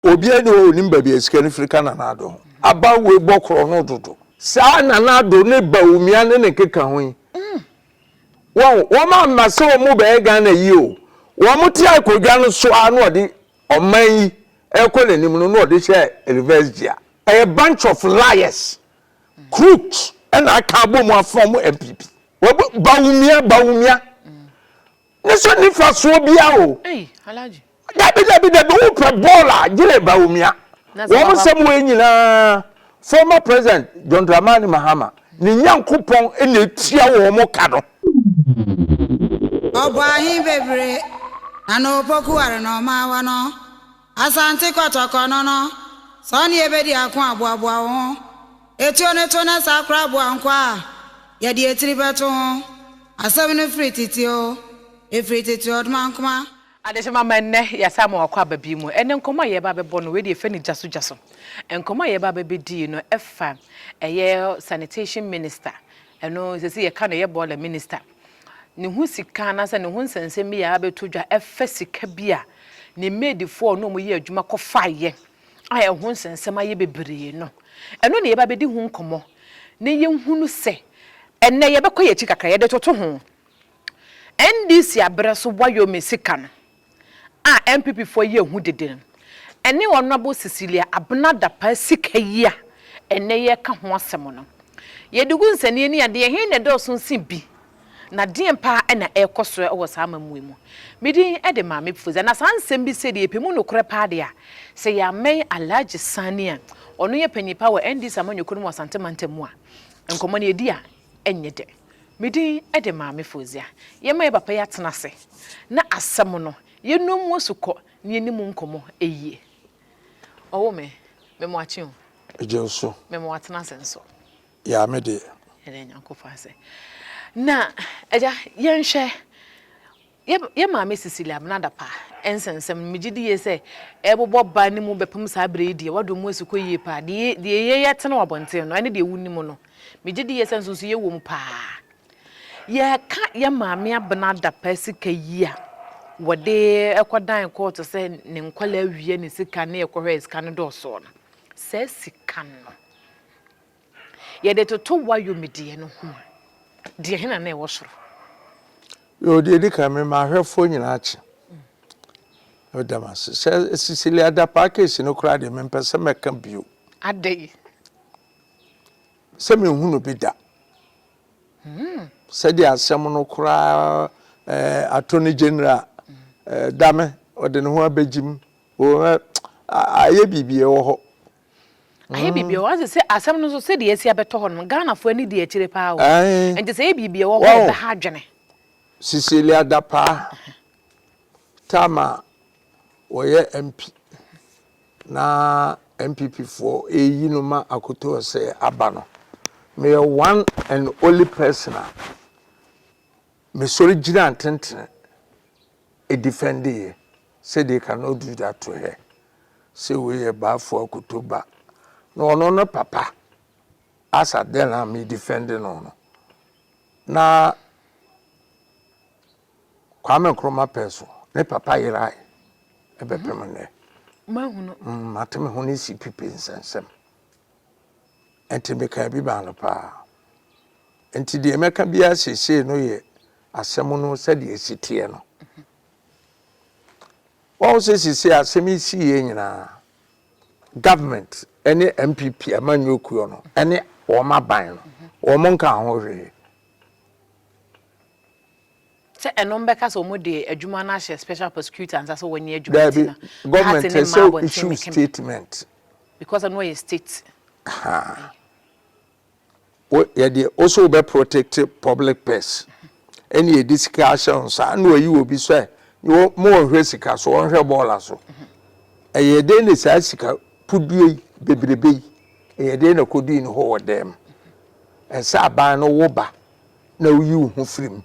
Obiara nni hɔ a onim baabi a sika no firi ka Nana Addo ho. Aban wei bɔ korɔno dodo. Saa Nana Addo ne Bawumia ne ne keka ho yi, wahu, wɔn amma sɛ wɔn bɛyɛ Ghana yie o. Wɔn te akodwa no so ara na wɔde ɔman yi ɛrekɔ n'anim no na wɔde hyɛ reverse gear. Ɛyɛ bunch of liars, crooks ɛna aka abɔ mu afɔm NPP. Bawumia, Bawumia. Ne so nifa soɔ bia o. Ei Alhaji. Dabi dabi dabi wo pɛ ball a gyere Bawumia. Wɔn nsɛm wei nyinaa former president John Dramani Mahama ne Nyankopɔn na etua wɔn ka no. Ɔbɔɔ ahe bebree, na n'opokuware na ɔmaa wɔn no, Asante Kɔtɔkɔ no no, sɛ ɔne yɛ bɛdi ako a, boaboa wo ho. Etuo no to na saa koraa boa nkoa a, yɛde etiri bɛto ho. Asɛm no firi tete oo, efiri tete ɔdomankoma. Adehyema ma nnɛ yɛasan ma wakɔ aba bi mu. Ɛnnɛ nkɔmmɔ a yɛreba abɛbɔ no, wei deɛ yɛfrɛ no gya so gya so. Nkɔmmɔ a yɛreba abɛbɛdi yi no, ɛfa ɛyɛ sanitation minister, ɛno seesei yɛka no ɛyɛ boiler minister. Ne ho sika anaasɛ ne ho nsɛnsɛm bi a abɛtɔ dwa fa sika bi a ne maidfoɔ a ɔne wɔn yɛ adwuma kɔfaeɛ a ɛho nsɛnsɛm ayɛ bebree no, ɛno na yɛba abɛdi ho nkɔmmɔ na yɛhunu sɛ ɛnnɛ yɛbɛkɔ yɛn akyi kakra, yɛde toto ho. NDC aberɛ so wɔayɔ me sika no, a NPP foɔ yɛ hu dede no, ɛne Honourable Cecilia Abena Dapaah sika yi a ɛnnɛ yɛreka ho asɛm no. Yɛde gu nsɛnneɛ ani a, deɛn he na ɛdɔɔso nsen bi? Na deɛn paa na ɛrekɔ so wɔ saa amammuo yi mu? Me din de Maame Pfodza, na saa nsɛm bi sei deɛ yɛpɛ mu nokorɛ paa deɛ a, sɛ yɛammɛn Alhaji Sani a ɔno yɛ panyin paa wɔ NDC amanyɔkuo no mu wɔ Asante Mantam mu a, nkɔmmɔ no yɛdi a, Ɛnyɛ dɛ. Me din de Maame Fozia. Yɛma yɛn papa yi atena ase na asɛm no, yɛnnɔ mu asukɔ na yɛnni mu nkɔmmɔ yie. Ɔwo me, mema wo akye o. Megye nso. Mema wo atena ase nso. Yaa me deɛ. Yɛda Nyankopɔn ase. Na, Agya, yɛnhwɛ Yɛ yɛ maame Cecilia Abnada Pa nsa nsɛm no, megye di yie sɛ ɛrebobɔ ba no mu bɛpem saa berɛ yi deɛ, w'adom mu asi kɔ yie paa. Deɛ deɛ yɛ yɛ tene wɔ abɔnten no, ɛne deɛ wo nim no, megye di yie sɛ nso nso yɛ wom paa. Yɛ ka yɛ maame Abnada Pa sika yi a, wɔde kɔ dan kɔɔto sɛ ne nkwadaa wia ne sika ne ɛkɔhɔ a sika no dɔɔsoɔ no, saa sika no, Yɛde toto w'ayɔmdeɛ no ho a, deɛ he na na ɛwɔ soro? Yoo, deɛ ɛdi kan, me m'ahwɛfoɔ nyinaa kye. Meda mo ase. Sɛ Cecilia Dapaah case no koraa deɛ, mempɛ sɛ mɛka bio. Adɛn? Sɛ menhunu bi da. Hmm. Sɛdeɛ asɛm no koraa eh, Attorney General eh, Dame, ɔde ne ho abɛgyim. Ayɛ biribi ɛwɔ hɔ. Ayɛ biribi o. Ɔse sɛ asɛm no nso sɛdeɛ asi abɛtɔ hɔ no, Ghanafoɔ ani di akyire paa o. Nti sɛ ɛyɛ biribi a ɛwɔ hɔ a ɛbɛha adwene. Cecilia Dapaah time a ɔyɛ MP na NPP foɔ ɛreyi no ma Akoto Osei aba no, meyɛ one and only person a mesɔre gyinaa ntentene edifɛndee sɛ dee ka no ɔduru da to hɛ sɛ wei yɛ Baffour akoto ba na ɔno no papa as at then a me difɛnde no no na Kwame Nkrumah pɛ so ne papa yerae ɛbɛpem nnɛ. Mahunu. Mate me ho ne CPP nsɛnsɛm. Enti mekaa bi maa no paa. Enti deɛ mɛka biara seesei no yɛ asɛm no sɛdeɛ ɛsi teɛ no. Wɔn sɛ seesei asɛm yi si yɛ nyinaa, government ne MPP amanyɔ kuo no ne wɔn aban no, wɔn nka ho hwee. Sɛ ɛno mbɛka sɛ ɔmo de adwuma no ahyɛ special prosecutor nsa sɛ wɔnyɛ adwuma nti Daabi, no, government Harte ne ɛsɛ mmaa abɔnten issue mekeme statement. because ɛno yɛ state Ahaa. wei. Wo yɛde wo so wobɛ protect public purse. Ɛne yɛde sika ahyɛ wo nsa ɛna wayi obi sɛ wo ma ɔnhwɛ sika so ɔnhwɛ bɔɔla so. Ɛyɛ dɛn na saa sika pudue yi bebrebe yi ɛyɛ dɛn na ɛkɔdui ne hɔ wɔ dɛm. Ɛsɛ aban no wo ba na wuyi wo ho firi mu.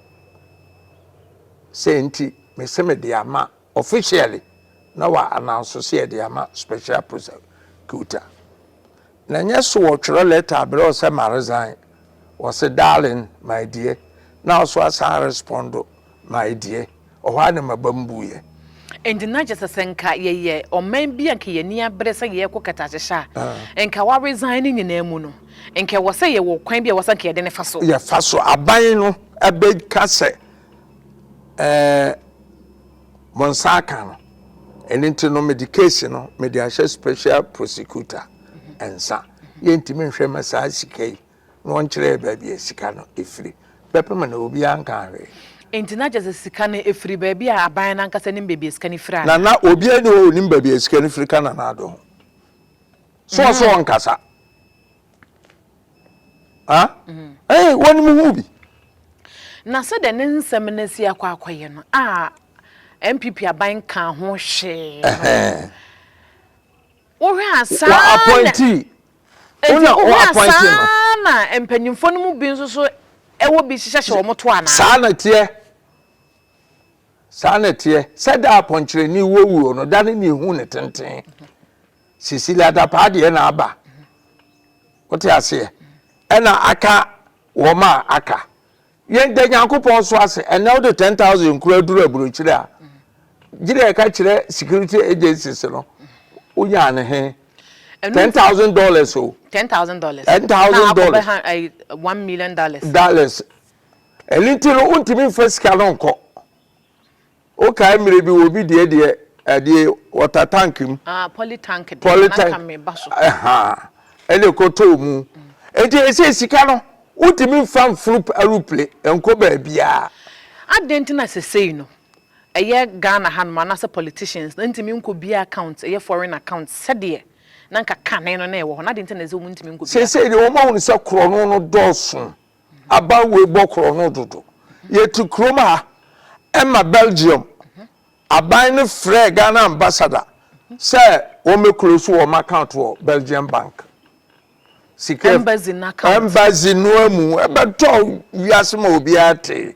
Sɛ nti mese mede ama officially na wa announce sɛ yɛde ama special prosecutor. Na nyɛ so wɔ twerɛ letter abrɛ wo sɛ ma resign, wɔse darling, my dear, na wo so asan respondo. Mae deɛ, ɔhɔ ara na m'abam buiɛ. Enti na kyerɛ sɛ sɛ nka yɛyɛ ɔman bi a nka yɛn ani abere sɛ yɛrekɔ kataakyehye a, nka wa resign ne nyinaa mu no, nka ɛwɔ sɛ yɛwɔ ɔkwan bi a ɛwɔ sɛ nka yɛde no fa so. Yɛfa so. Aban no bɛka sɛ, Ɛɛ, mo nsa aka no. Ɛno nti no, mede case no mede ahyɛ special prosecutor nsa. Yɛntumi nhwɛ mma saa sika yi na wɔnkyerɛɛ baabi a sika no firi, bɛpem no, obiara nkaa hwee. Enti na kyerɛ sɛ sika no firi baabi a aban no ankasa nim baabi a sika no firi anaa? Na na obiara nni hɔ a onim baabi a sika no firi ka Nana Addo ho. So ɔse ɔnkasa? Huh? Ei, wonim ho bi? Na sɛdeɛ ne nsɛm no asi akɔ akɔyɛ no a NPP aban nkaa ho hwee no, Wohwɛ a saa na nti wohwɛ a saa na mpanyinfoɔ no mu bi nso so ɛwɔ bi hyehyɛ hyɛ wɔn to anaa. Saa na teɛ saa na teɛ sɛ da apɔnkyerɛni wɔ wuo no da ne ne ehu ne tenten sisi ladapaa deɛ na aba wote aseɛ ɛna aka wɔn a aka Yɛn da Nyankopɔn so ase, ɛnɛ wode 10,000 kura duru aburokyire a, gyina ɛka kyerɛ security agencies no, wonya ne he. Ten thousand dollars o. Ten thousand dollars. Ten thousand dollars. Na akɔbɛ one million dollars. Dollars. Ɛni ti no, wontumi nfa sika no nkɔ. Wo kae mmere bi wɔ bi deɛ deɛ ɛdeɛ water tank mu. Ah poly tank deɛ na nka me ba so. Ɛhaa ɛna ɛkɔ tɔɔ mu. Nti ɛsɛ sika no wo tumi nfa nforo aruple nkɔ baabiaa. Adɛn nti na sesei no ɛyɛ Ghana ha nom anaasɛ politicians no ntumi nkɔ bia account ɛyɛ foreign account sɛdeɛ na nka kane no na ɛwɔ hɔ no adɛn nti na ɛsɛ wɔn ntumi nkɔ bia account. Sesei deɛ wɔn ahunu sɛ korɔno no dɔɔso. Aban wei bɔ korɔ no dodo. Yɛte kurom ha ɛma Belgium aban no frɛɛ Ghana ambassador sɛ wɔn bɛ close wɔn account wɔ Belgium bank. Sika embassy no account. Embassy no amu ɛbɛtɔ wiase ma obiara te.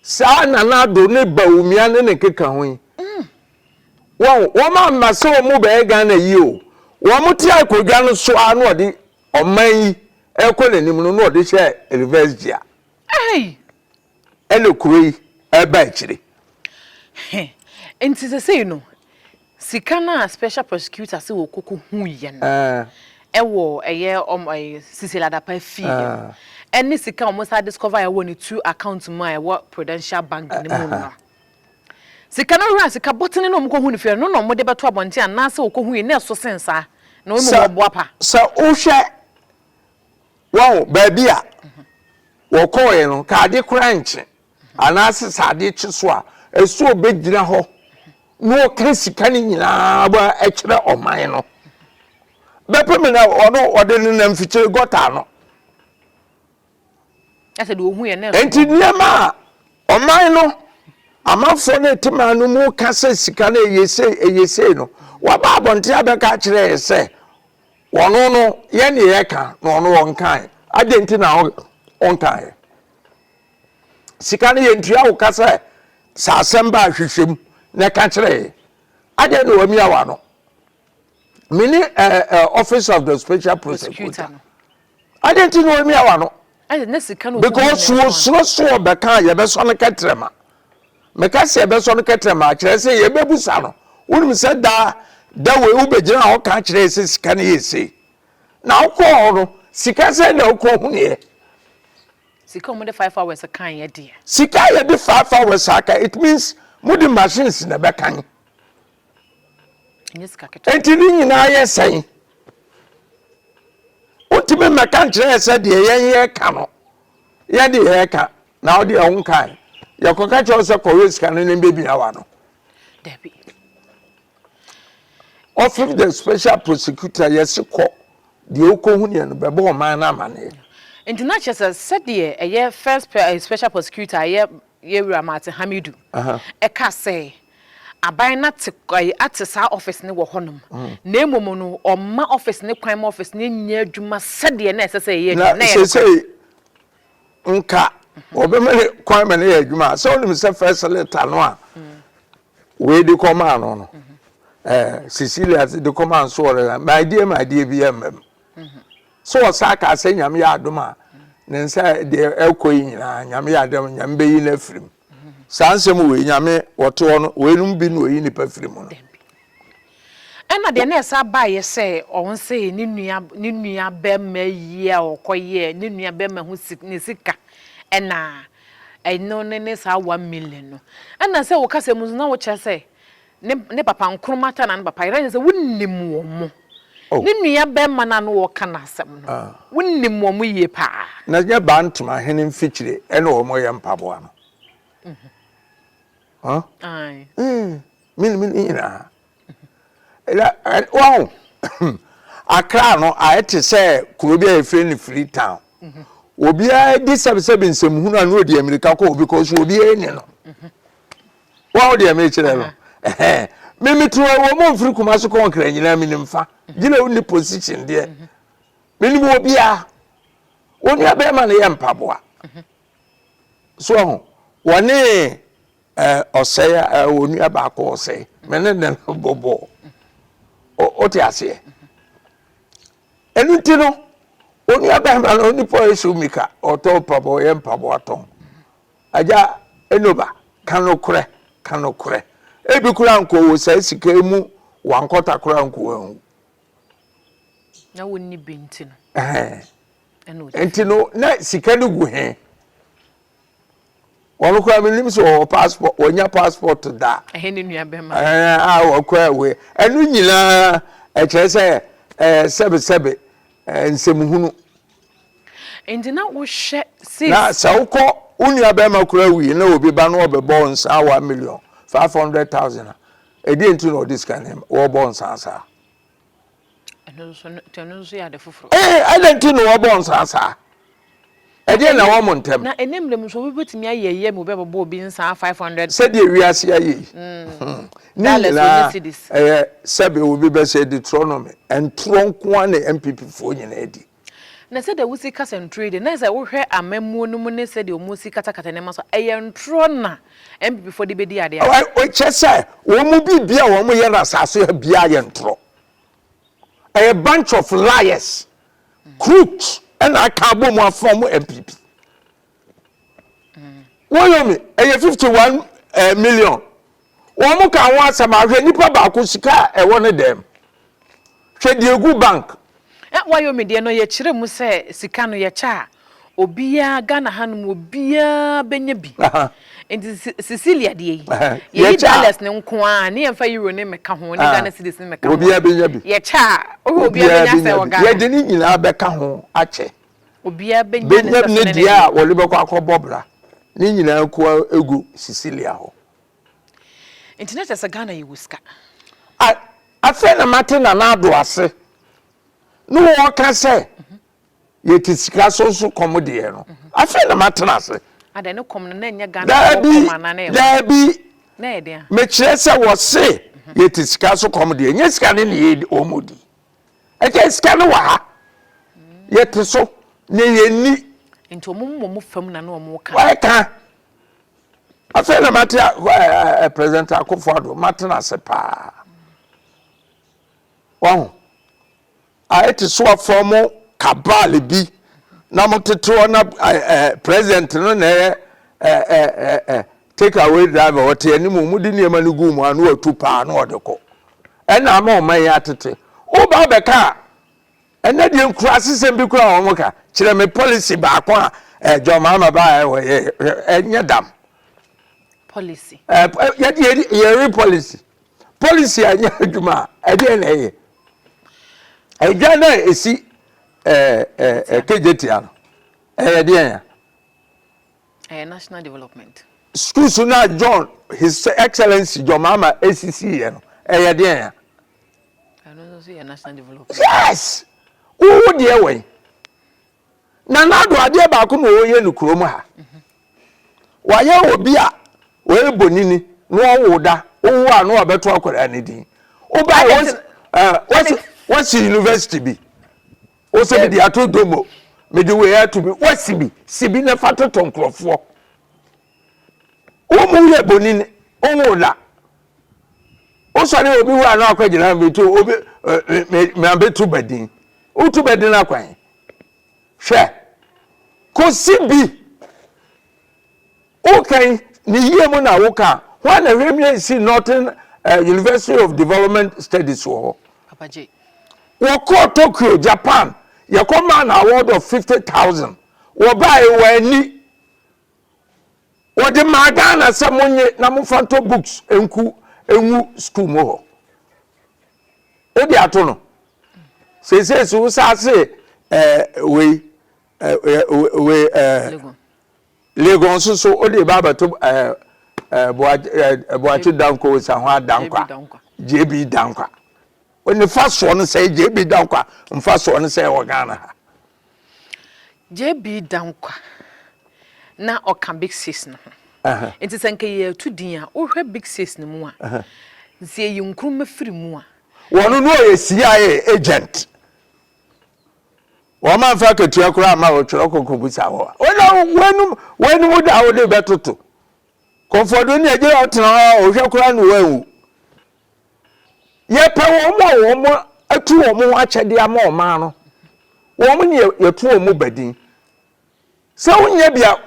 Saa Nana Addo ne Bawumia ne ne keka ho yi. Wɔn wɔn amma sɛ wɔn bɛyɛ Ghana yi o. Wɔn te akonnwa no so ara na wɔde Ɔman yi rekɔ n'anim no na ɔde hyɛɛ reverse gear. Hey! Ɛna kuro yi reba akyire. He, nti sesei no, sika no a special prosecutor se wɔkɔkɔ huiɛ no, ɛwɔ ɛyɛ ɔm ɛy Cecil Adapa fie no, ɛne sika a wɔsan discover a ɛwɔ ne two account mu a ɛwɔ Prudential Bank no mu no. Sika no wura sika bɔtene na wɔkɔhu no fie no, ɛno na wɔde bɛto abɔnten anaasɛ wɔkɔhui na ɛso sen saa, na wɔmmu ho boapa. Sɛ wohwɛ, wahu, baabi a wɔkɔeɛ no, ka ade koraa nkye anaasɛ sɛ ade kye so a, ɛsɛ ɔbɛgyina hɔ na ɔka sika no nyinaa kyerɛ ɔman no. Bɛpem na ɔno ɔde nenam mfikyire gɔta ano. Enti nneɛma a ɔman no, amanfoɔ no a ɛte man no mu ka sɛ sika no ɛyɛ sei, ɛyɛ sei no, waba abɔnten abɛka akyerɛ yɛ sɛ ɔno no yɛn deɛ yɛka na ɔno ɔnkae. Adɛn nti na ɔnkaeɛ? Sika no yɛntua wo ka sɛ sɛ asɛm baa hwehwɛ mu na ɛka kyerɛ yɛ. Adɛn na wamia w'ano? me ne eh, eh, office of the special prosecutor no adɛn nti na ɔmia wa no because wɔsuro so ɔbɛka a yɛbɛsɔ no kɛtrɛma meka sɛ yɛbɛsɔ no kɛtrɛma akyerɛ sɛ yɛbɛbusa no wonim sɛ daa da wei wobɛgyina hɔ ka kyerɛ sɛ sika no yɛ sei na wokɔɔ hɔ no sika sɛ na wokɔ huneɛ sika wɔde five hours kan yɛ deɛ sika yɛde five hours aka it means mode machines na ɛbɛkan nti ne nyinaa yɛ sɛn wotumi mmɛka nkyerɛ sɛ deɛ yɛn yɛka no yɛn de yɛka na wode ɛho nkae yɛkɔka kyerɛ wo sɛ kɔwɛ sika no ne bɛbia wa no ɔfif the special prosecutor yɛse kɔ deɛ wokɔhu neɛ no bɛbɔ ɔman no amaneɛ nti na kyerɛ sɛ sɛdeɛ ɛyɛ first eh, special prosecutor ɛyɛ yɛwura maate hamidu ɛka sɛ Aban no ate ɛɛ ate saa office no wɔ hɔnom, na mmom no wɔmma office no kwan ma office no nyɛ adwuma sɛdeɛ na ɛsɛ sɛ ɛyɛ adwuma. Na seesei nka wɔbɛma no kwan ma no yɛ adwuma a, sɛ wonim sɛ first letter no a wei de kɔmaa no no, ɛɛ Cecilia de kɔmaa no so wɔre la, my dear my dear bi ɛmma mu. So wɔsan kaa sɛ Nyame yɛ adom a ne nsa deɛ ɛkɔ yi nyinaa Nyame yɛ adom a Nyame bɛyi no afiri mu. Saa nsɛm wei, Nyame, wɔtoɔ no, weinom bi na ɔyi nnipa firi mu no. Dabi. Ɛna deɛ na ɛsan baeɛ sɛ ɔnsee ne nua, ne nua bɛma yie a ɔkɔyɛɛ ne nua bɛma ho si, ne sika, ɛna ɛno ne ne saa one million no. Ɛna sɛ wo kasa mu nso na wokyerɛ sɛ Ne ne papa nkruma ta na ne papa yere ɛne sɛ wonim wɔn mo oh. ne nua bɛrima no a no wɔka n'asɛm no ah. wonim wɔn mo yie paa na nyɛ baa ntoma hene mfikyire ɛne wɔn yɛ mpaboa no mm -hmm. huh? Aye. Mm, mene mene nyinaa wahu akra no ayɛ te sɛ kuro bi a yɛfrɛ no free town obiara di sɛbesɛbe nsɛmhunu a na ɔdi amirika kɔ obi kɔ so obiara ni no wɔn deɛ mekyerɛ no me meto wɔ mu mfiri kuma so kɔnkra nyinaa menim fa gyina wo ne position deɛ menim wɔ biara wɔn nua bɛrima no yɛ mpaboa so ho wɔne ɔsɛe a wɔn nua baako ɔsɛe me ne ne no bɔbɔ ɔte aseɛ ɛnu ti no wɔn nua bɛrima no onipa esu mika ɔtɔ mpaboa ɔyɛ mpaboa tɔn. Agya Enoba, ka nokorɛ, ka nokorɛ. Ebi koraa nkɔɔ wɔ saa sika yi mu, wankɔta koraa anku wanwu. Na wɔnni bi nti no. Ɛhɛn. Nti no, na sika no gu he? Wɔn koraa menim sɛ wɔwɔ passport, wɔnya passport da. Ɛhɛn ne nua bɛma. Ɛhɛn a wɔkɔ away. Ɛno nyinaa ɛkyerɛ sɛ ɛɛ sɛbesɛbe ɛɛ nsɛmhunu. Enti na wohwɛ sɛ. Na sɛ wokɔ, wo nua bɛrima koraa wui na obi ba na ɔbɛbɔ wo nsa one million five hundred thousand a, ɛdeɛ nti na ɔde sika no wɔbɔ nsa saa? Ɛno nso ɛno nso yɛ ade foforɔ. Ee, eh, ɛdeɛ nti na wɔbɔ nsa saa? Ɛdeɛ na wɔn ntɛm. Na ɛnɛ mmerɛ mu nso obi bɛtumi ayɛ ɛyɛ mu bɛbɛbɔ obi nsa five hundred. Sɛdeɛ wiase ayɛ yi. Mm. Hmm. Ne nyinaa ɛyɛ sɛbe obi bɛsɛ Deuteronomy, ntorɔ nko ara na NPP foɔ nyinaa di. Na sɛdeɛ wosi kasa ntorɔ yi deɛ, na sɛ wohwɛ amammuo no mu ne sɛdeɛ wɔn si katakata nneɛma so a, ɛyɛ ntorɔ na NPP foɔ de bɛdi adeɛ ase. Kyɛ sɛ wɔn mu biribi a wɔn yɛ no asase ha biara yɛ ntorɔ. Ɛyɛ bunch of liars, crooks ɛna aka abɔ mu afɔm NPP. Wɔyomi ɛyɛ fifty one ɛɛ eh, million wɔn ka ho asɛm ahwɛ nipa baako sika a ɛwɔ ne dɛm hwɛ deɛ egu bank. Eh, Wɔyomi deɛ no yɛkyerɛ mu sɛ sika no yɛkyɛ a obiara Ghana hanom obiara bɛnya bi nti Cecilia deɛ yi yɛyi dollars ne nko a ne yɛmfa euro ne mɛka ho ne Ghana cedis ne mɛka ho obiara bɛnya bi yɛkyɛ a obiara bɛnya sɛ wɔ Ghana yɛde ne nyinaa bɛka ho akyɛ Obiara bɛnya ne sɛso ne ne deɛ. a wɔde bɛkɔ akɔbɔ bra ne nyinaa kua gu Cecilia hɔ. Nti na kyerɛ sɛ Ghana yɛwɔ sika. A, afei na mate Nana Addo ase ne wɔka sɛ yɛte sika so nso kɔm deɛ no. Afei na matena ase. Adɛn ne kɔm no na ɛnyɛ Ghana foɔ Daabi, kɔm anaa na ɛyɛ daabi, na ɛyɛ deɛ. mekyerɛ sɛ wɔse yɛte sika so kɔm deɛ, nyɛ sika ne ne yɛ wɔn di. ɛkyɛ sika no wɔ ha yɛte so na yɛnni nti wɔn mmɔ mu fam na na wɔn ka wɔka afei na mate a president akofo ado mate na ase paa wɔn a ɛte so afɔ mo kabal bi na mo tete hɔ na president no na ɛyɛ ɛɛ ɛɛ Take away driver ɔte anim wɔn de nneɛma no gu mu a na watu paa na ɔde kɔ ɛna ama ɔman yi atete woba abɛka a ɛnɛ deɛ nkuraase sɛm bi kura wɔn ka kyerɛ me policy baako a ɛɛ John Mahama ba a ɛwɔ yɛ ɛnyɛ dam policy ɛɛ yɛde yɛ yɛre policy policy a nyɛ adwuma a ɛdeɛ na ɛyɛ ɛdwa na esi ɛɛ ɛɛ kegye tia no ɛyɛ deɛ yɛn. Ɛyɛ national development. Schools no a John His Excellency John Mahama esisi yɛ no, ɛyɛ deɛn a? Ɛno nso so yɛ national development. Yes! Wowo deɛ wɛn? Na n'ado adeɛ baako na ɔyɛ no kurom ha. Mhm. Wayɛ obi a ɔyɛ bonini na ɔwo da, wowo a na wabɛto akwadaa no din. Wobae wɔsi university bi. wo sɛ mede ato dom o mede wei ato bi woasi bi si bi na fa toto nkurɔfoɔ wo mu yɛ bonini wowo la wosɔre obi wura no akɔgyina meto obi mabɛto badin woto badin akwan hwɛ kɔsi bi Wokan ne yie mu na woka a, hwan na hwɛ mie si Northern uh, University of Development Studies wɔ hɔ? Wɔkɔɔ Tokyo, Japan, yɛkɔ maa na award of 50,000. Wɔbaeɛ wɔani. Wɔde maa Ghana sɛ monye na momfa ntɔ books nku ngu school mu hɔ. Wode ato no. Seesei so wosaa se eh, wei eh, eh, wei eh, Legon nso so wode eba abɛto ɛɛ ɛɛ Boakye Danko Osahwa Dankwa JB Dankwa ne fa soɔ no sɛ JB Dankwa nfa soɔ no sɛ wɔ Ghana ha. JB Dankwa na ɔka Big Six no ho. Nti sɛ nka yɛtu din a wohwɛ Big Six no mu a nti yɛyi Nkrumah firi mu a. Wɔn no ɔyɛ CIA agent. Wɔn amfa akatua koraa amma wo twerɛ kɔ kɔbisa hɔ a wona woanom woanom wo da a wode bɛtoto kɔmfɔdo ne agyina wotena hɔ a ɔhwɛ koraa ne woanwu yɛpɛ wɔn a wɔn atu wɔn ho akyɛdeɛ ama ɔman no wɔn ne yɛto wɔn mu badin sɛ wonyɛ bia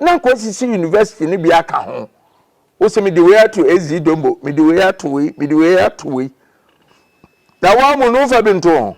na nkɔ sisi university no bi aka ho wo sɛ mede wei ato ɛzi dombo mede wei ato wei mede wei ato wei na wɔn mu no wofa bi nto ho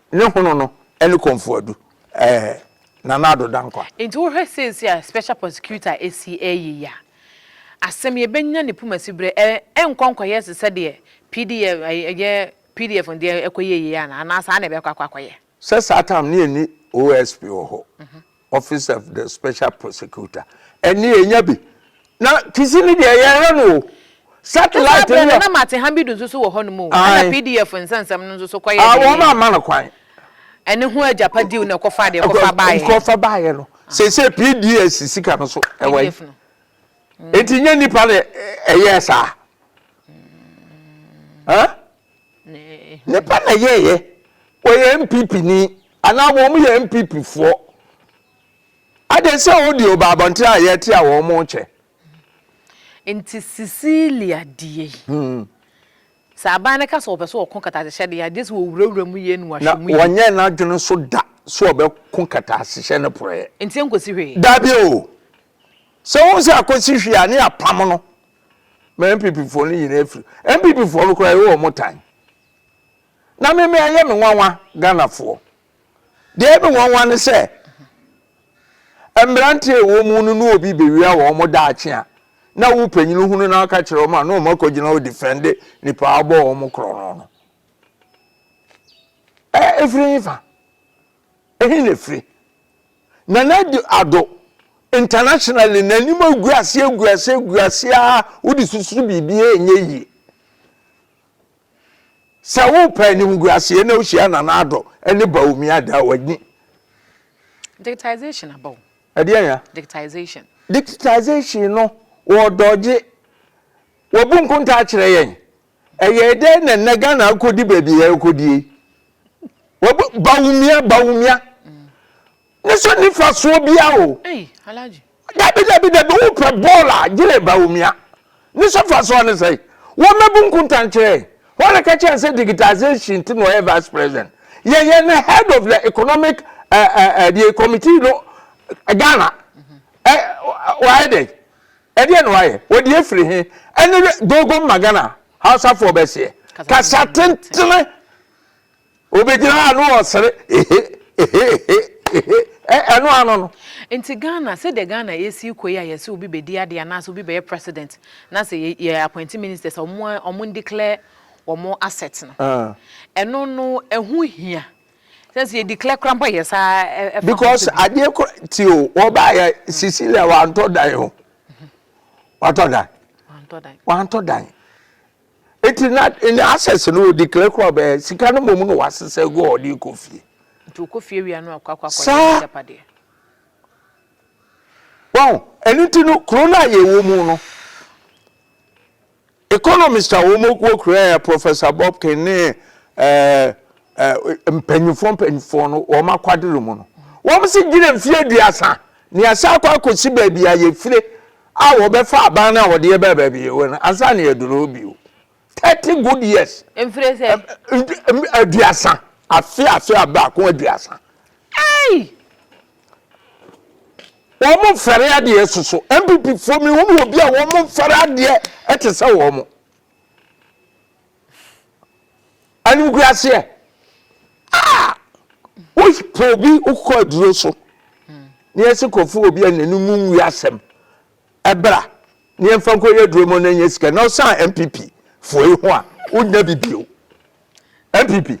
Ne hono no ne Komfoadu eh Nana Addo Dankwa. Nti wo hwɛ seesei a special prosecutor asi ɛɛyɛ yi a asɛm yi ɛbɛnya ne puma siberɛ ɛ ɛnkɔ nkɔyɛ te sɛ deɛ pdf ɛyɛ pdf no deɛ ɛkɔyɛɛyɛ yi anaa anaa saa na ɛbɛkɔ akɔ akɔyɛ. Sɛ saa time no yɛnni OSP wɔ hɔ. Office of the Special Prosecutor. Ɛnne ɛnya bi. Na kisi no deɛ yɛhwɛ no o. Satellite no yɛ. Ɛna na Martin Hambidu nso so wɔ hɔ nom o. Ɛna PDF nsɛnsɛm no nso so kɔyɛ deɛ. Wɔn amma no kwan. Ɛne ho agyapa deal na ɛkɔfa deɛ ɛkɔfa baayɛ. Ɛkɔfa baayɛ no. Sese PDS sika no so ɛwɔ yi. Eti nye nipa na ɛyɛ saa. Huh? Ne ba na yɛɛyɛ. Ɔyɛ NPP ni anaa wɔn yɛ NPP foɔ. Adɛn sɛ wɔn deɛ ɔba abɔnten a yɛte a wɔn rekyɛ. Nti Cecilia deɛ yi. Hmm. Sɛ aban no ka sɛ wɔpɛ sɛ wɔko kataasehyɛ deɛ a, gye sɛ wɔwurawura mu yie na wɔahwɛ mu yie. Na wɔnyɛ n'adwene so da sɛ wɔbɛko kataasehyɛ no porɔeɛ. Nti ɛnkɔsi hwee? Dabi o. Sɛ wohu sɛ akɔsi hwee a, ne yɛapam no. ma npp foɔ no nyinaa firi npp foɔ no koraa yɛwɔ wɔn tan na meme ɛyɛ me nwanwa ghana foɔ deɛ me nwanwa ne sɛ mmeranteɛ ɛwɔ mu no ne obi bɛwia wɔ wɔn daakye a na wo panyini hunu na aka kyerɛ wɔn a na wɔn akɔgyina wɔ defɛnde nipa abɔ wɔn korɔ no no ɛfiri nyi fa Ehe na efiri? Nana Addo, internationally no anim agu ase agu ase agu ase ara wode susuru biribi a ɛnyɛ yie. Sɛ wopɛ animguaseɛ na wohyia Nana Addo ne Bawumia Ada a w'ani. Digitization aba o. Ɛdeɛn ya? Digitization. Digitization no wɔredɔgye. Wabu nkontaa akyerɛ yɛn. Ɛyɛɛ dɛn na nnɛ Ghana akɔdi baabi a ɛrekɔdi yi? Wɔbɔ Bawumia Bawumia ne so nifa soɔ bia o. Dabi dabi dabi wopɛ bɔɔl a gyere Bawumia ne so fa soɔ ne sɛn? Wɔmmɛbu nkontan kyerɛ yɛn. Wɔn na ka kyerɛ sɛ digitization ti na ɔyɛ vice president. Yɛn yɛn ne head of the economic uh, uh, uh, the committee no Ghana. Mm -hmm. uh, wayɛ dɛn? Ɛdeɛ na wayɛ? Ɔdeɛ firi he? Ɛne Dogon Magana Hausafoɔ bɛseɛ. Kasa tentene. Ɔbɛgyina hɔ a na ɔsere. Ehe, ehe, ehe, ehe. Ɛ, ɛno ano no. Nti Ghana, sɛdeɛ Ghana ɛsii kɔ yi a yɛse obi bɛdi adeɛ anaasɛ obi bɛyɛ president na sɛ yɛ, yɛ appointing ministers a wɔn, wɔn declare wɔn assets no. Ɛno no, ɛho hia. Sɛ sɛ yɛ declare kora mpo yɛ saa ɛfa ho Because adeɛ kora ti o wɔba yɛ Cecilia wantɔ dan o. Watɔ dan. Wantɔ dan. Eti na ne access no o declare kora bɛyɛ sika no mmom na wasesa gu a ɔde kɔ fie. Nti okɔ fie wia no akɔ akɔ akɔ yɛ agyapadeɛ. Wɔn ɛno ti no kuro no a yɛwɔ mu no. Economist a wɔn okuo kura yɛ Professor Bobkin ne ɛɛ mpanyinfoɔ mpanyinfoɔ no wɔn akwadere mu no, wɔn se gyina mfie aduasa na yɛasan akɔ akɔsi baabi a yɛfire a wɔbɛfa aban no a wɔde yɛbaa baabi yɛwɔ no ansa na yɛaduru hɔ bio. Thirty good years. Mfire sɛ? Aduasa. Afe afe a baako aduasa. Ei! wɔn mo mfɛre adeɛ soso npp foɔ mi hunu obi a wɔn mo mfɛre adeɛ ɛte sɛ wɔn mo animkura aseɛ a wopɛ obi wokɔ aduro so ne ɛsi kɔfo obi a n'anim nwi asɛm Bra na yɛmfa nkɔ yɛ duro mu na nyɛ sika na ɔsan MPP foɔ yi ho a wonya bi bio. MPP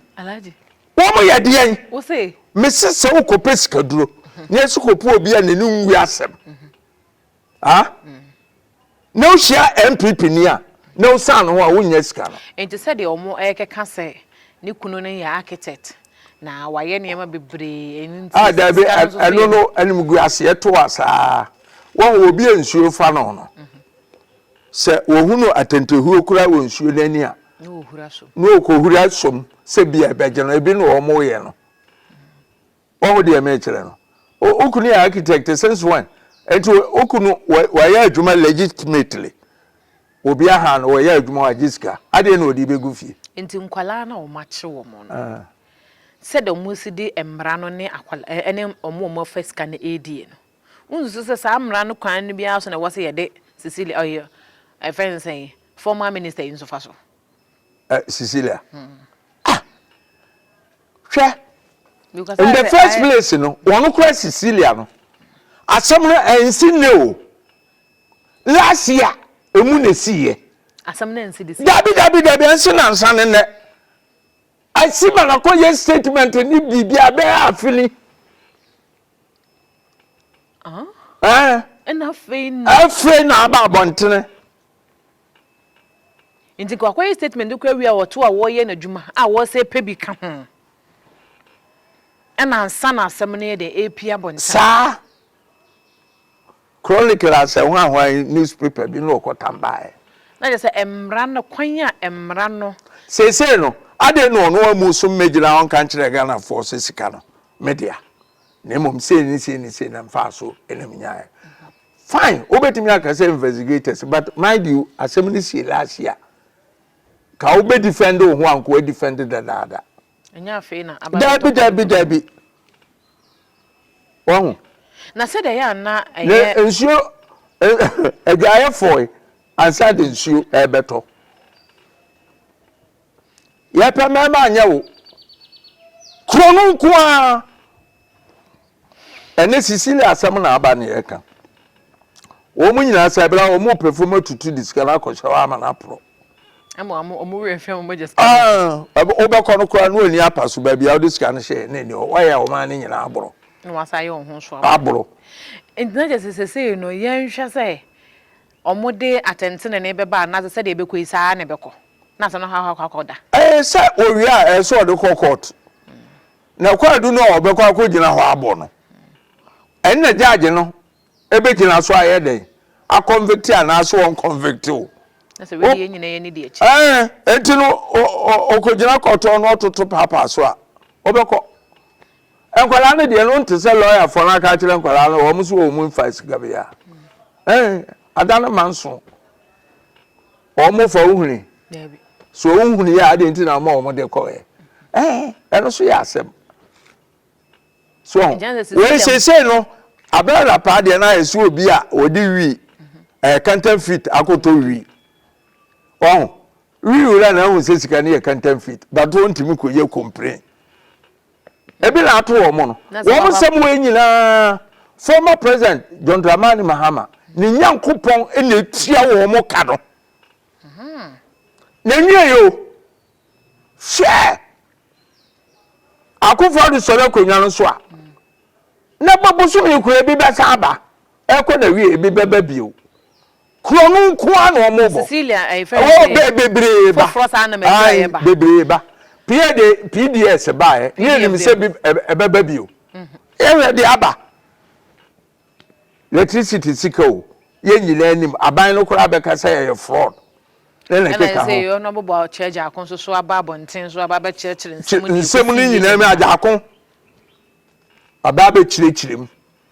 wɔn yɛ deɛn? Mese sɛ wokɔpɛ sika duro na yɛsi kɔpɛ obi a n'ani nwi asɛm ah na wohyia MPP ni a na wosan no ho a wonya sika no. Nti sɛdeɛ wɔn ɛkeka sɛ ne kunu no yɛ architect na wayɛ nneɛma bebree ɛno nti sika no nso so yɛ. Ɛno no anim gu aseɛ to asaa. Wɔn obi a nsuo refa no no, sɛ wɔhunu atɛntɛhuo koraa wɔ nsuo no ani a, na wɔkɔhura som sɛ bia ɛbɛgye no. Ebi na wɔyɛ no. Wɔho deɛ mekyerɛ no. Wokunu yɛ architect since when? Nti wokunu wayɛ adwuma legitimately. Obi aha no wɔyɛ adwuma wagye sika. Adeɛ na wɔde bɛgu fie. Nti nkwadaa na wɔakye wɔn no. Ah. Sɛdeɛ wɔsi de mmara no ne akwala ɛne wɔn wɔn afa sika no ɛredie no. Wunsu so sɛ saa mmara no kwan no bi ara so na ɛwɔ sɛ yɛde Cecilia, ɔyɛ ɛfɛ no sɛn, former minister yi nso fa so? Eh, Cecilia. Hmm. Ah! Hwɛ. In the first place no, wɔn kura Cecilia no. Asɛm no ɛnsi ne o. Last year, emu na esi yɛ. Asɛm no ɛnsi de si. Dabi dabi dabi ɛnsi na nsa ne nɛ. Asi ma na kɔ yɛ statement ne biribi abɛɛ afili. afei na aba abɔntene nti kɔ akɔyɛ statement kɔ awie a wɔto a wɔreyɛ n'adwuma a wɔsɛ pɛ bi ka ho ɛna nsa na asɛm no yɛ dɛ ɛpia abɔntene saa chronicle asɛ ho ahoa newspaper bi na ɔkɔtam baeɛ na kyɛ sɛ mmara no kwan a mmara no seesei no adɛn na ɔno amu so mmɛgyina ɔnka nkyerɛ ghanafoɔ sɛ sika no medea na mmom sei ne sei ne sei na mfaa so na menyaeɛ fine wobɛtumi aka sɛ investigators but mind you asɛm no sie last year ka wobɛ defend wo ho anko defend dadaada ɛnyɛ afei na aba daabi daabi daabi wahu na sɛ deɛ yɛ ana ɛyɛ nsuo adwaeɛfoɔ ansa de nsuo ɛbɛtɔ Yɛpɛ mɛma anyɛ wo. Kuro no nko ara. Ɛne Cecilia asɛm na aba ne yɛka. Wɔn nyinaa sɛ ɛbɛla wɔn pɛ fam atutu de sika no akɔhyɛ hɔ ama no aporɔ. Ɛma wɔn wɔn werɛ fɛn wɔn agya sika. Ah, wobɛkɔ no koraa na ɔni apa so baabi a wode sika no hyɛ na ɛni hɔ. Wayɛ wɔn ano nyinaa aboro. Na wasa ayɛ wɔn ho so aboro. Aboro. Nti na kyɛ sɛ sesei no yɛnhwɛ sɛ Wɔde atɛntenenee bɛba anaasɛ sɛdeɛ ɛbɛkɔ yi, saa ara na ɛbɛkɔ, na asɛm no akɔ akɔ akɔ da. Ɛɛ, sɛ wɔwie a, ɛsɛ sɛ wɔde kɔ court. Na kwaadu no a wɔbɛkɔ akɔgyina hɔ abɔ no, ɛno na judge no bɛgyina so ayɛ dɛn? A convict anaasɛ wɔn convict wo. Na sɛ wei deɛ nyina yɛ ne di akyi. Ɛɛ, enti no ɔkɔgyina kɔtɔɔ na ɔtoto paapaa so a, wɔbɛkɔ. Nkwadaa no deɛ no nte sɛ lɔyafoɔ no aka akyerɛ nkwadaa no wɔn so wɔn mfa sika bia ɛn ada no ma nso wɔn fa ohuni so ohuni yɛ adeɛ nti na wɔn wɔn de kɔ yɛ ɛn ɛno so yɛ asɛm so wɔn sese no abɛn na paa deɛ no ayɛ so obi a wɔde wi ɛɛ kantan fit akɔtɔ wi wɔn wi wura na ɛho sɛ sika no yɛ kantan fit bato ntumi kɔ yɛ complain. Ebi na ato wɔn no. Wɔn nsɛm wɔ nyinaa former president John Dramani Mahama ne Nyankopɔn na etua wɔn ka no. Mhm. Na nwie yo. Hwɛ akofo ado sɔrɔ akonnwa no so a. Na bɛbosom yi kura ebi bɛsan aba. Ɛkɔ na wie ebi bɛba bio. Kuro no nko ara na wɔn bɔ. Cecilia ɛɛ fɛn sɛ. Ɛwɔ bɛ bebree ba. Foforɔ saa na mɛtwa yɛ ba. Ayi bebree ba. Pia de PDS ba yɛ. Ne yɛ nim sɛ bi ɛbɛ bɛ bi o. Yɛ hwɛ de aba. Electricity sika o. Yɛ nyinaa nim. Aban no koraa bɛ ka sɛ ɛyɛ fraud. Ɛna ɛsɛ sɛ yɛ ɔno bɔbɔ kyerɛ gyaako nso so aba abɔnten so aba bɛ kyerɛ kyerɛ nsɛm. Nsɛm no nyinaa mi agyaako. Aba bɛ kyerɛ kyerɛ mu.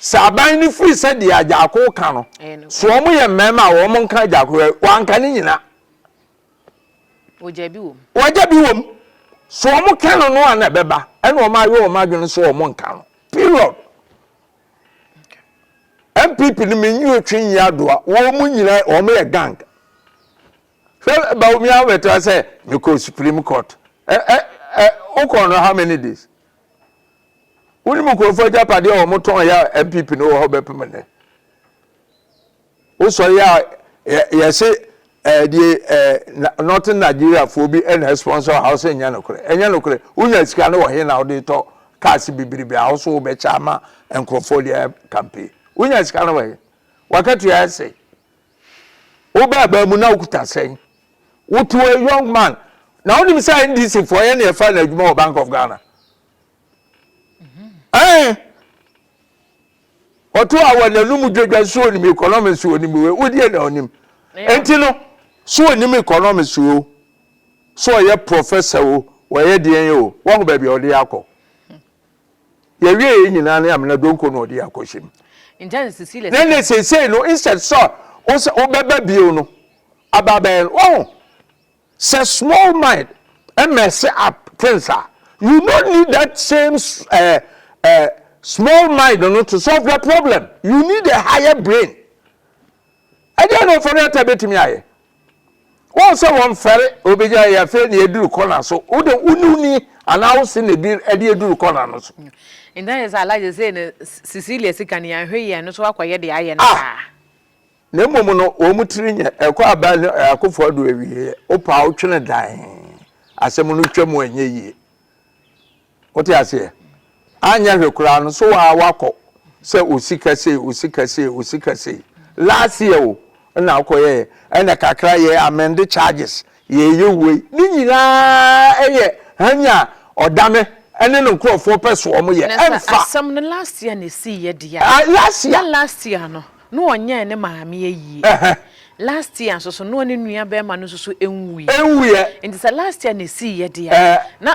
Sɛ aban no firi sɛ deɛ Agyarko reka no, so wɔn yɛ mmarima a wɔn nka Agyarko hwɛ, wɔanka ne nyina. Wɔgya bi wɔ mu. Wɔgya bi wɔ mu. So wɔn ka no no a na ɛbɛba, ɛna wɔn ayɛ wɔn adwene so wɔn nka no. Period. NPP no menyi otwe nyi adoa, wɔn nyina wɔn yɛ gang. Hwɛ Bawumia abɛtena sɛ mekɔ Supreme Court. Ɛ ɛ ɛ wokɔ no how many days? Wonim nkurɔfoɔ agyapadeɛ a wɔn tɔn yɛ a NPP no wɔ hɔ bɛpem nnɛ. Wosɔre a yɛse ɛɛ deɛ ɛɛ Northern Nigeria foɔ bi ɛna sponsor house ɛnyɛ nokorɛ ɛnyɛ nokorɛ wonya sika no wɔ he na wode tɔ cars bebrebe a woso wobɛkyɛ ama nkurɔfoɔ deɛ campaign wonya sika no wɔ he wakatua ɛsɛ wobɛ abaa mu na wokuta sɛn wotoɔ young man na wonim sɛ NDC foɔ yɛ ne ɛfa na adwuma wɔ Bank of Ghana ɛn ɔto a wɔ n'anum dwadwa so onim economics so onim wei wodeɛ na onim nti no so onim economics o so ɔyɛ professor o wɔyɛ deɛn yɛ o wɔho baabi a ɔde akɔ yɛwie yɛ nyinaa ne amena donko na ɔde akɔ hyɛ mu ne ne seesei no instead sɛ wobɛba bio no aba bɛn wɔho Sɛ small mind mess up things a, you no need that same eh, eh, small mind no to solve the problem. You need a higher brain. Ɛdeɛ na ɔfɔre ata bɛtumi ayɛ. Wɔn sɛ wɔn fɛre obegya yɛ afei na eduru kɔna so. Wode wone ni anaa wose na ebi ɛde eduru kɔna no so. Nda yɛ sɛ alaje sɛ ne Cecilia sika ne yɛn hwɛ yɛn no so akɔyɛ de ayɛ no ah! saa. Na mmom no, wɔn tiri nyɛ, ɛkɔ aban no akofo ado awieɛ, wopaa wo twene dan, asɛm no twa mu ɛnyɛ yie. Wote aseɛ? Anyɛ hwɛ koraa no, so waa wakɔ sɛ osika sei, osika sei, osika sei. Last year o, ɛna wokɔyɛɛ, ɛna kakra yɛ amend charges, Yɛreyɛ wei ne nyinaa yɛ hann a ɔda me ne ne nkurɔfoɔ pɛ soɔ mo yɛ ɛmfa. Na sɛ asɛm no last year na ɛsii yɛ deɛ a. Ah last year. Na last year no na ɔnyɛɛ ne maame ayie. Ɛhɛn. Last year nso so na ɔne nua bɛɛma no nso so ɛnwuiɛ. Ɛnwuiɛ. Nti sɛ last year na ɛsii yɛ deɛ a. Ɛɛ. Na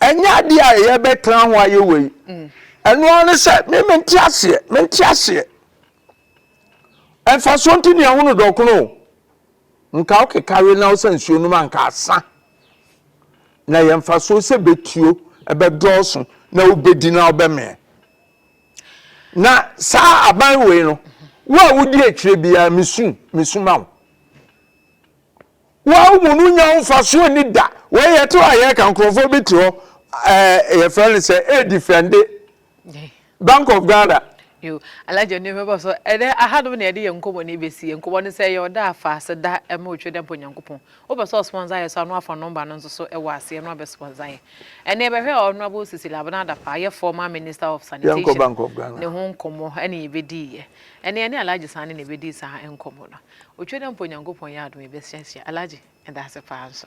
Ɛnyɛ adeɛ a yɛbɛtena ho ayɛ wei. Ɛno ara ne sɛ me mente aseɛ, mente aseɛ. Mfasoɔ nti ne ɛho no dɔkono o. Nka wokeka we na wo sɛ nsuo nom anka asa. Na yɛ mfasoɔ sɛ bɛtuo ɛbɛdɔɔso na wobɛdi na wobɛmeɛ. Na saa aban wei no, wo a wodi akyire biara mesu, mesuma wo. Wawo mu no nya mfasoɔ ni da wei yɛte hɔ a yɛka nkurɔfoɔ bi te hɔ ɛɛ yɛfrɛ no sɛ ɛredifɛnde Bank of Ghana. Yo alaja ne mɛbɔ so ɛdɛ aha nom na yɛde yɛ nkɔmmɔ ne bɛsi yɛ nkɔmmɔ no sɛ yɛ ɔda afa ase da ɛma otwe dɛ mpɔ nyankopɔn wopɛ sɛ ɔsponsor yɛ so ano afa nɔmba no nso so ɛwɔ aseɛ no abɛ sponsor yɛ ɛnɛ yɛbɛhwɛ ɔnoabo sisi labena adafa ayɛ former minister of sanitation ne ho nkɔmmɔ ɛne yɛbɛdii yɛ ɛnɛ yɛne alaja saa ne na ɛbɛdii saa nkɔmmɔ no Otwa dɛ mpo Nyankopɔn yɛ adom yɛbɛsuasua. Alhaji, yɛda ase paa nso.